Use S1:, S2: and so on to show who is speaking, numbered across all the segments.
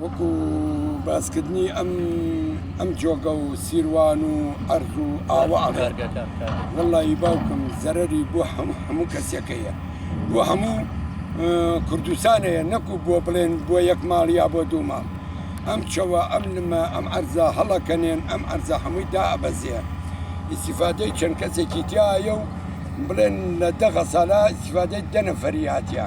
S1: وەکو باسکردنی ئەم ئەم جۆگە و سیروان و ئەرز و ئاوە وڵی باوکم زەرری بۆ هەموو هەموو کەسەکەیە بۆ هەموو کوردستانەیە نەکو بۆ بڵێن بۆ یەک ماڵ یا بۆ دوو ماڵ ئەم چەوە ئەم لمە ئەم ئەرزا هەڵەکەنێن ئەم ئەرزە هەمووی دابەزێ ئیسیفادەی چەند کەسێکی تایە و بڵێن لە دەغە سالا ئیسیفادەی دەنەفەریاتە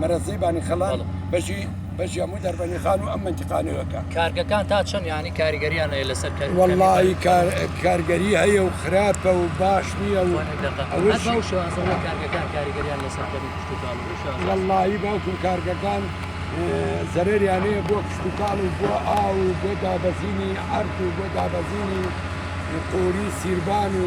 S1: مەرەزەی بانیخەڵات بەشی بەشی هەموو دەربەنی خان و ئەم منتیقانەوەکە کارگەکان تا چەند
S2: ینی کاریگەریان هەیە لەسەر کار وەڵی
S1: کارگەری هەیە و خراپە و باش نییە و
S2: وەڵی
S1: باوکم کارگەکان زەرریانەیە بۆ کشتتوکاڵ و بۆ ئاو و بۆ دابەزینی ئەرد و بۆ دابەزینی قۆری سیربان و